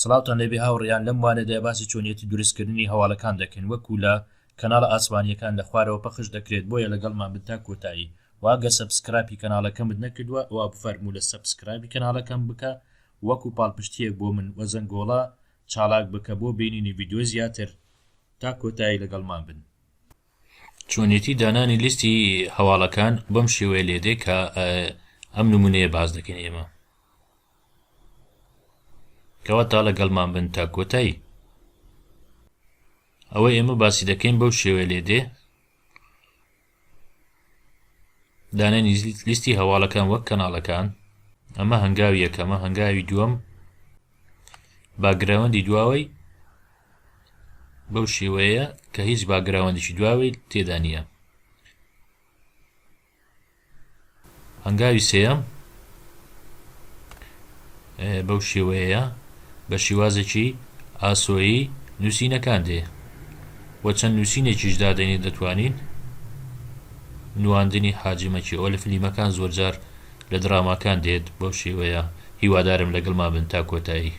سڵاوتان لێبێ هاوڕێیان، لەم وانەدا باسی چۆنیەتی دروستکردنی هەواڵەکان دەکەین وەکو لە کەناڵە ئاسمانیەکان لە خوارەوە پەخش دەکرێت بۆیە لەگەڵمان بن تا کۆتایی وە ئەگەر سەبسکرایپی کەناڵەکەمت نەکردوە ئەوا بفەرموو لە سەبسکرایبی کەناڵەکەم بکە وەکو پاڵپشتیەک بۆ من وە زەنگۆڵە چاڵاک بکە بۆ بینینی ڤیدیۆ زیاتر تا کۆتایی لەگەڵمان بن. چۆنیەتی دانانی لیستی هەواڵەکان بەم شێوەیە لێدێ کە ئەم نمونەیە باس دەکەین ئێمە. کەواتە لەگەڵمان بن تا کۆتایی ئەوە ئێمە باسی دەکەین بەو شێوەیە لێ دێ دانانی لیستی هەواڵەکان وەک کەناڵەکان ئەمە هەنگاوی یەکەمە هەنگاوی دووەم باگراوەندی دواوەی بەو شێوەیە کە هیچ باگراوەندیی دواوەی تێدانە هەنگاوی سێیەم بەو شێوەیەیە بە شیوازێکی ئاسۆیی نووسینەکان دێ و چەند نووسینێکیش دادەنێین دەتوانین نواندنی حاجی مەکی ئەوە لە فلیمەکان زۆرجار لە دراماکان دێت بەو شێوەیە هیوادارم لەگەڵمان بن تا کۆتایی.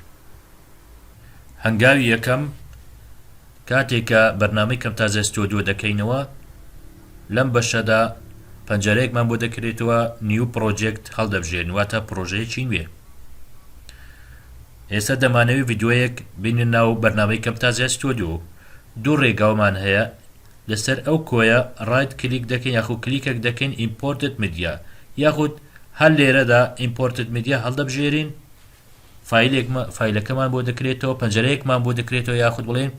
کاتێک کە بەرنامەی کەمتازە ستۆدیۆ دەکەینەوە لەم بەشەدا پەنجەرەیەکمان بۆ دەکرێتەوە نیو پرۆجێکت هەڵدەبژێرین واتە پرۆژەیەکی نوێ ئێستا دەمانەوەی ڤیددیوەیەک بینە ناو بەرنامەی کەمتازە ستۆدیۆ دوو ڕێگاومان هەیە لەسەر ئەو کۆیە ڕایت کلیک دەکەین یاخو کلیکەک دەکەین ئیمپۆرتت میدیا یاخود هەر لێرەدا ئیمپۆرتت میدیا هەڵدەبژێرین فایلێکمە فایلەکەمان بۆ دەکرێتەوە پەنجەرەیەکمان بۆ دەکرێتەوە یاخود بڵێن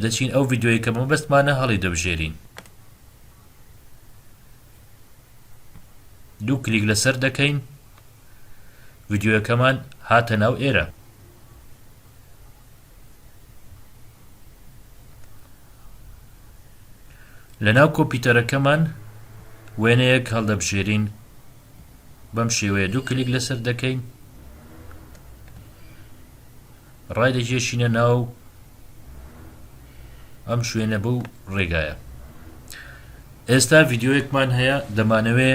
دەچین ئەو ڤیددیوەیە کە مەبەستمانە هەڵی دەبژێرین دوو کلیک لەسەر دەکەین ڤیددیوەکەمان هاتە ناو ئێرە لە ناو کۆپیتەرەکەمان وێنەیەک هەڵدەبژێرین بەم شێوەیە دوو کلیک لەسەر دەکەین ڕای دەکێشینە ناو ئەم شوێنە بەو ڕێگایە ئێستا ڤیددیوەکمان هەیە دەمانەوێ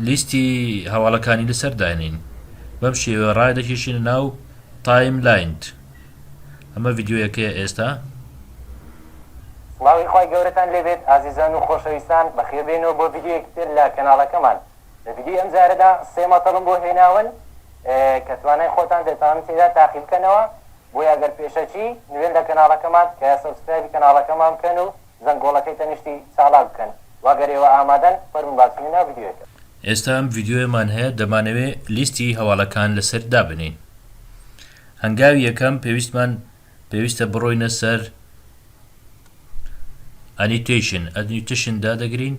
لیستی هەواڵەکانی لەسەر داێنین بەم شێوە ڕای دەکێشینە ناو تایم لاینت ئەمە ڤیدیۆیەکەیە ئێستا. سڵاوی خوای گەورەتان لێ بێت ئازیزان و خۆشەویستان بەخێر بێنەوە بۆ ڤیدیۆیەکی تر لە کەناڵەکەمان لە ڤیدیۆی ئەم جارەدا سێ مەتەڵم بۆ هێناون کە توانای خۆتان دەتانن تێدا تاقی بکەنەوە بۆیە گەر پێشەکی نوێن لە کەناڵەکەمان تکایە سەبسکرایبی کەناڵەکەمان بکەن و زەنگۆڵەکەی تەنیشتی چاڵاک بکەن وە گەر ئێوە ئامادەن فەرموون با چینە ناو ڤیدیۆیەکە. ئێستا ئەم ڤیدیۆیەمان هەیە دەمانەوێ لیستی هەواڵەکان لەسەر دابنێین هەنگاوی یەکەم پێویستمان پێویستە بڕۆینە سەر Annotation Annotation دادەگرین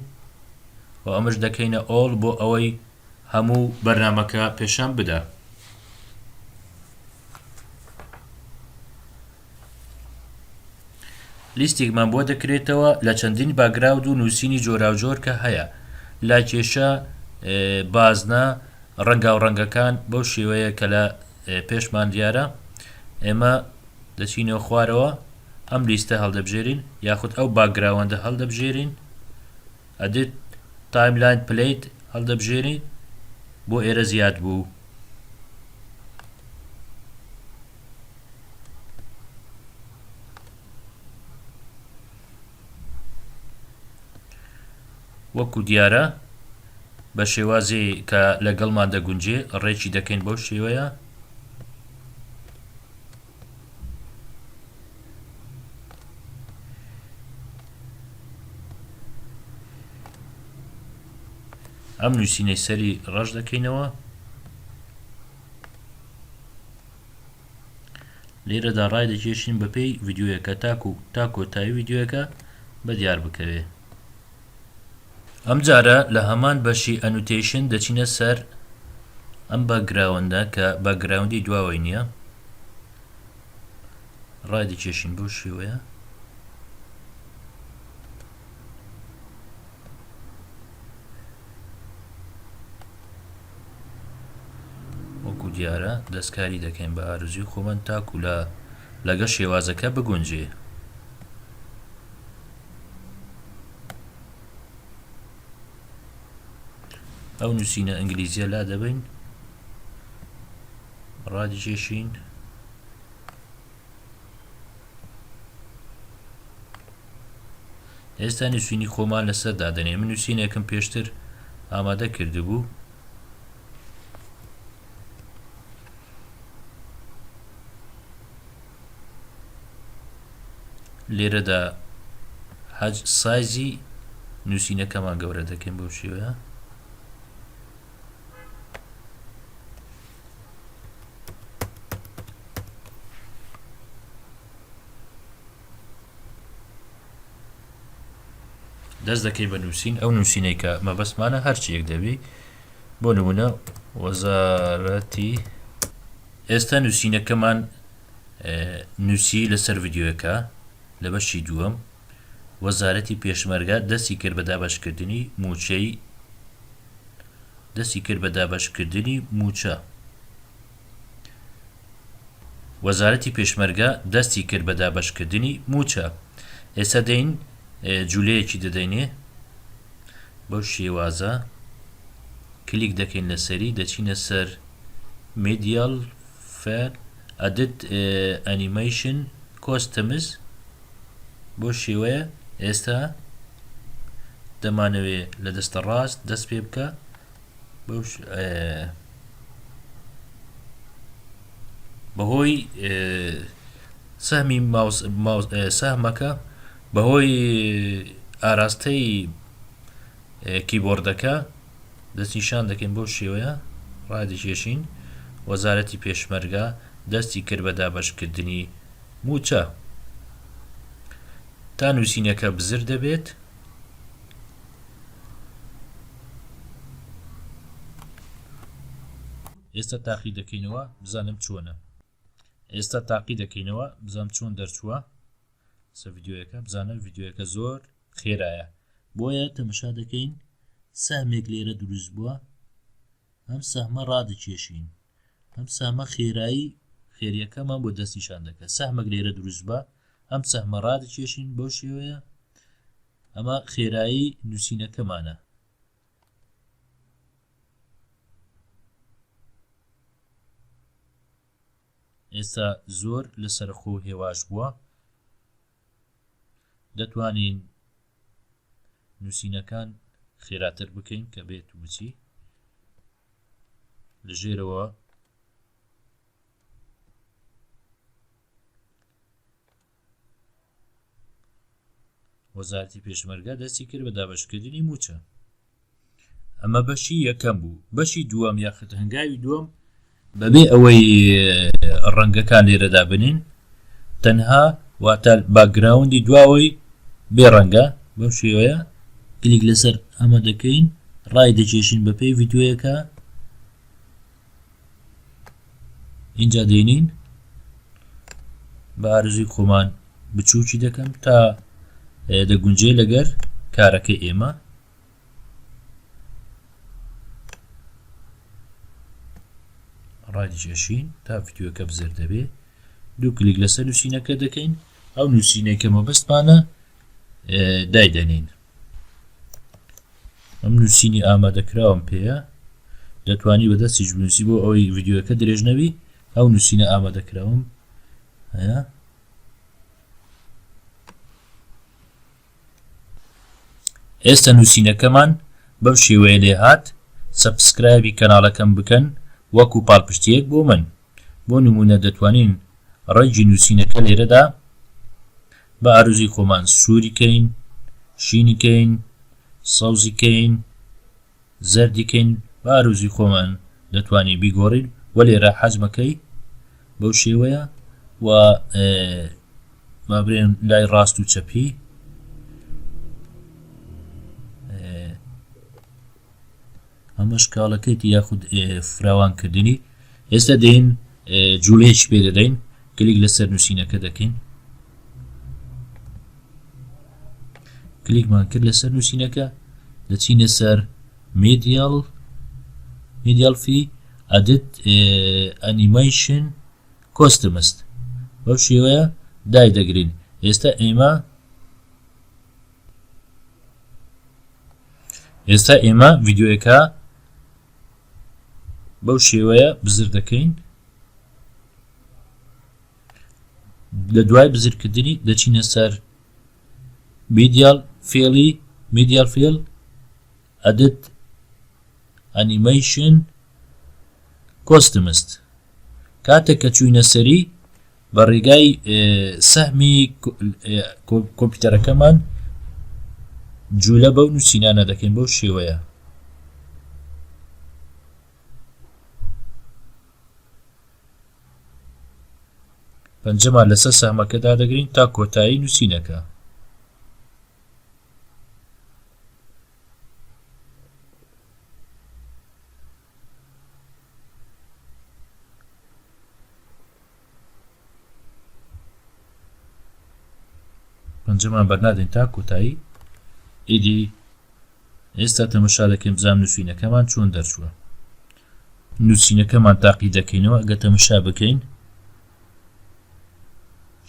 و ئەمەش دەکەینە All بۆ ئەوەی هەموو بەرنامەکە پێشان بدا لیستێکمان بۆ دەکرێتەوە لە چەندین باگراود و نووسینی جۆراوجۆر کە هەیە لا کێشە بازنە ڕەنگاو ڕەنگەکان بەو شێوەیە کە لە پێشمان دیارە ئێمە دەچینەوە خوارەوە ئەم لیستە هەڵدەبژێرین یاخود ئەو باگراوەندە هەڵدەبژێرین ئەدیت تایملاین پلیت هەڵدەبژێرین بۆ ئێرە زیاد بوو وەکو دیارە بە شێوازێ کە لەگەڵمان دەگونجێ ڕێکی دەکەین بەو شێوەیە. ئەم نووسینەی سەری ڕەش دەکەینەوە. لێرەدا ڕای دەکێشین بەپێی ڤیدیۆیەکە تاکو تا کۆتایی ڤیدیۆیەکە بە دیار بکەوێ ئەمجارە لە هەمان بەشی ئەنوتەیشن دەچینە سەر ئەم باگراوەندە کە باگراوندی دواوەی نییە ڕای دەکێشین بۆ شێوەیە وەکو دیارە دەستکاری دەکەین بە ئارەزوی خۆمان تاکو لە لەگەڵ شێوازەکە بگونجێ. ئەو نووسینە ئەنگلیزیە لا دەبین ڕادیکێشین ئێستا نووسینی خۆمان لەسەر دادەنێن من نووسینێکم پێشتر ئامادە کردبوو لێرەدا حەج سایزی نووسینەکەمان گەورە دەکەین بۆ شێوەیە دەست دەکەی بە نووسین ئەو نووسینەی کە مەبەستمانە هەرچی یەک دەبی بۆ نمونە وەزارەتی ئێستا نووسینەکەمان نووسی لەسەر ڤیددیوەکە لە بەشی دووەم وەزارەتی پێشمەرگا دەستی کرد بە دابشکردنی موچەی دەستی کرد بە دابەشکردنی مووچە. وەزارەتی پێشمەرگە دەستی کرد بە دابەشکردنی مووچە. ئێستا دێین جولەیەکی دەدەینێ بەو شێوازە کلیک دەکەین لەسەری دەچینە سەر میدیال فەر ئەدت ئەنیمەیشن کۆستەمز بۆ شێوەیە ئێستا دەمانەوێ لە دەستە ڕاست دەست پێ بکە بەهۆی سەهمی سەهمەکە بەهۆی ئاراستەی کیبۆردەکە دەست نیشان دەکەین بەو شێوەیە ڕادەکێشین وەزارەتی پێشمەرگە دەستی کرد بە دابەشکردنی مووچە تا نووسینەکە بزر دەبێت ئێستا تاقی دەکەینەوە بزانم چۆنە ئێستا تاقی دەکەینەوە بزانم چۆن دەرچووە سە یددیوەکە بزانم یددیوەکە زۆر خێرایە بۆیە تەمەشا دەکەین سەهمێک لێرە دروست بووە ئەم سەهمە ڕادەکێشین ئەم سامە خێرایی خێریەکەمان بۆ دەستیشان دەکە سەهمەک لێرە دروست بە ئەم سەهمە ڕادکێشین بۆ شێوەیە ئەمە خێرایی نووسینەکەمانە ئێستا زۆر لە سەرخۆ هێواش بووە دەتوانین نووسینەکان خێراتر بکەین کە بێت وچی لە ژێرەوە وەزارتی پێشمەرگە دەستی کرد بە دابشکردنی موچە ئەمە بەشی یەکەم بوو بەشی دووەم یاخت هەنگاوی دووەم بەبێ ئەوەی ڕەنگەکان لێرەدا بنین تەنها واتە باگراوندی دواوەی بێ ڕەنگە بەم شێوەیە کلیک لەسەر ئەمە دەکەین ڕای دەکێشین بەپێی یددیوەکە ئینجا دێنین بە ئارزوی خۆمان بچووکی دەکەم تا دەگونجێ لەگەر کارەکە ئێمە ڕادیشین تا ڤیددیوەکە بزر دەبێ دوو کلیک لەسەر نووسینەکە دەکەین ئەو نووسینەی کە مەبەستمانە دایدەنین ئەم نووسینی ئامادەکراوم پێەیە دەتوانی بەدەستیش بنووسی بۆ ئەوەی ڤیددیوەکە درێژ نەوی ئەو نووسینە ئامادەکراوم هەیە ئێستا نووسینەکەمان بەم شێوەیە لێ هاات سەبسکرایبی کەناڵەکەم بکەن وەکو پاڵپشتیەک بۆ من بۆ نموونە دەتوانین ڕەنگی نووسینەکە لێرەدا بە ئارزوی خۆمان سووری کەین شینی کەین سەوزی کەین زەردی کەین بە ئارزوی خۆمان دەتوانین بیگۆڕین و لێرە حەزمەکەی بەو شێوەیە و بابرێن لای ڕاست و چەپی ئەمەش کاڵەکەیتی یاخود فراوانکردنی ئێستا دێن جوولێک پێ دەدەین کلیک لەسەر نووسینەکە دەکەین کلیکمان کرد لەسەر نووسینەکە دەچینە سەر میدیال میدیال فی ئەدت ئەنیمەیشن کۆستمست بەو شێوەیە دای دەگرین ئێستا ئێمە ئێستا ئێمە ڤیددیوەکە بەو شێوەیە بزر دەکەین لە دوای بزرکردنی دەچینە سەر میدیال فێڵی میدیال فێل ئەدت ئەنیمەیشن کۆستمست کاتێک کە چوینە سەری بە ڕێگای سەهمی کۆمپیوتەرەکەمان جوولە بەو نووسینانە دەکەین بەو شێوەیە پەنجەمان لەسەر سەهمەکەدا دەگرین تا کۆتایی نووسینەکە پەنجەمان بەرنادەین تا کۆتایی ئیدی ئێستا تەمەشا دەکەین بزان نووسینەکەمان چۆن دەرچووە نووسینەکەمان تاقی دەکەینەوە گە تەمەشا بکەین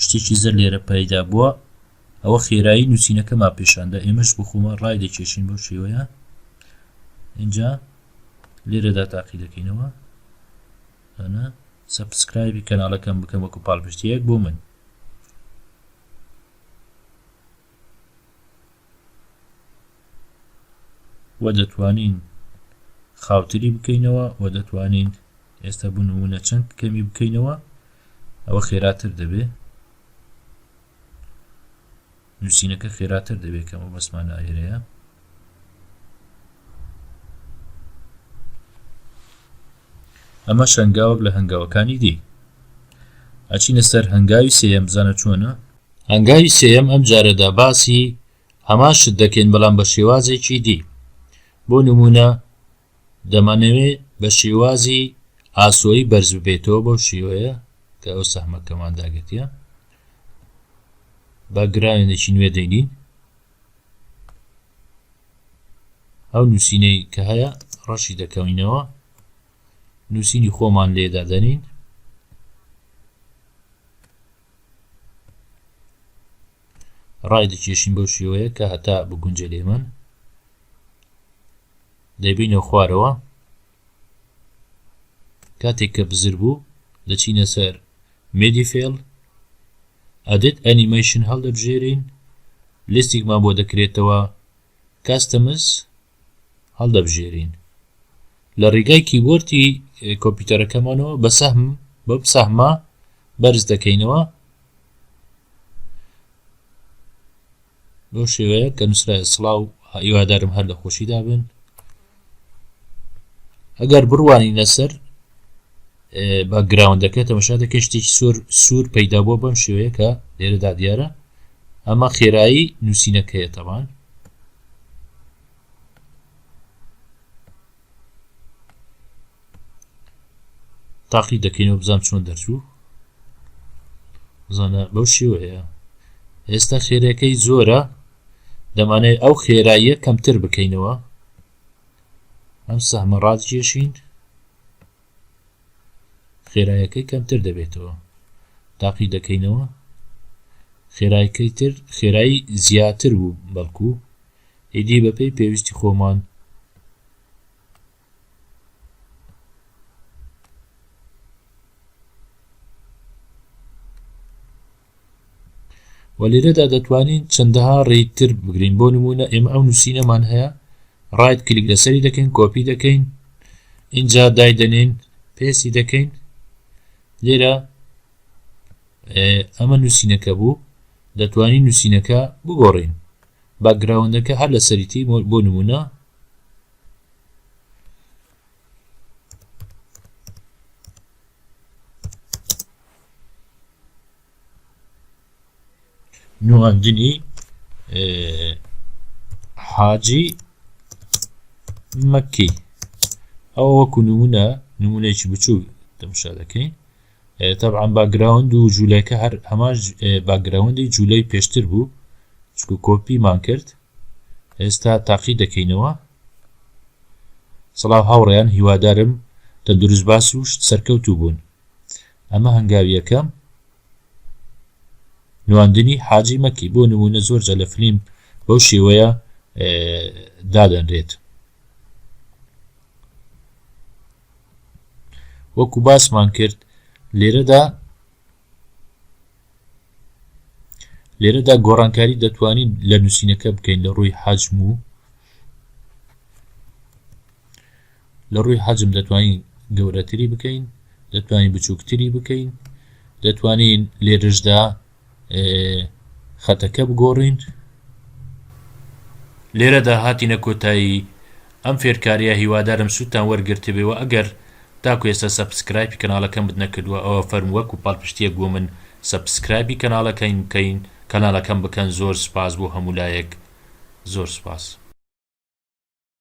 شتێکی زەر لێرە پەیدا بووە ئەوە خێرایی نووسینەکەمان پێشاندا ئێمەش بخۆمە ڕای دەکێشین بەو شێوەیە اینجا لێرەدا تاقی دەکەینەوە ئەنا سبسکرایبی کەناڵەکەم بکەم وەکو پاڵپشتیەک بۆ من و دەتوانین خاوتری بکەینەوە و دەتوانین ئێستا بنمونە چەند کەمی بکەینەوە ئەوە خێراتر دەبێت نوسینەکە خێراتر دەبێت کە مەبەستمان لە ئەوێرەیە. ئەمە شەنگاوەک لە هەنگاوەکانی دی ئەچینە سەر هەنگاوی سێم بزانە چۆنە هەنگاوی سێم ئەم جارەدا باسی هەمان شت دەکەین بەڵام بە شێوازێکی دی بۆ نمونە دەمانەوێت بە شێوازی ئاسۆیی بەرز ببێتەوە بەو شێوەیە کە ئەو سەحمەکەمان داگرتە بە گراوێنێکی نوێ دەینین ئەو نووسینەی کە هەیە ڕەشی دەکەوینەوە نووسینی خۆمان لێدادەنین ڕای دەکێشین بەو شێوەیە کە هەتا بگونجێ لە ئێمە دەبینە خوارەوە کاتێک کە بزر بوو دەچینە سەر مێدی فێڵ ئەدت ئەنیمەیشن هەڵدەبژێرین لستێکمان بۆ دەکرێتەوە کاستەمز هەڵدەبژێرین لە ڕیگای کیبۆرتی کۆمپیوتەرەکەمانەوە بە سەهم بەم سەهمە بەرز دەکەینەوە بەو شێوەیە کە نووسرا سڵاو هیوادارم هەر لە خۆشی دابن ئەگەر بڕوانی لەسەر بە گراوندەکە تەمەشا دەکە شتێکی سۆر سوور پەیدا بۆ بەم شێوەیە کە لێرەدا دیارە ئەمە خێرایی نووسینەکەیە تەمان تاقی دەکەینەوە بزان چۆن دەرچوو زانە بەو شێوەیە ئێستا خێرەکەی زۆرە دەمانێت ئەو خێراییە کەمتر بکەینەوە ئەم سەمەڕات کێشین خێرایەکەی کەمتر دەبێتەوە تاقی دەکەینەوە خێرایەکەی تر خێرایی زیاتر بوو بەڵکو ئیدی بەپێی پێویستی خۆمان و لێرەدا دەتوانین چەندەها ڕێیکتر بگرین بۆ نمونە ئێمە ئەو نوسینەمان هەیە ڕایت کلیک لەسەری دەکەین کۆپی دەکەین اینجا دایدەنین پێسی دەکەین لێرە ئەمە نووسینەکە بوو دەتوانین نووسینەکە بگۆڕین باگراوندەکە هەر لە سەریتی بۆ نمونە نواندنی حاجی مەکی ئەو وەکو نمونە نمونەیەکی بچوو دەمشا دەکەین تەعاان باگراوند و جوولەکە هەر هەمان باگراوندی جوولەی پێشتر بوو چکو کۆپیمان کرد ئێستا تاقی دەکەینەوە. سڵاو هاوڕێیان هیوادارم تەندروست باس و سەرکەوتوو بوون ئەمە هەنگاویەکەم نواندنی حاجی مەکی بۆ نمونە زۆر جە لە فلیم بەو شێوەیە دادەنرێت وەکو باسمان کرد لێرەدا لێرەدا گۆڕانکاری دەتوانین لە نوسینەکە بکەین لە ڕووی حەجم و لە ڕووی حەجم دەتوانین گەورەتری بکەین دەتوانین بچووکتری بکەین دەتوانین لێرشدا خەتەکە بگۆڕین لێرەدا هاتینە کۆتایی ئەم فێرکاریە هیوادارم سودتان وەرگرتبێ وە ئەگەر تاکو ئێستا سەپسکرایپی کەناڵەکەمت نەکردوە ئەوە فەرمو وەکو پاڵپشتیەک بۆ من سەپسکرایبی کەناڵەکەین بکەین کەناڵەکەم بکەن زۆر سوپاس بۆ هەموو لایەک زۆر سوپاس.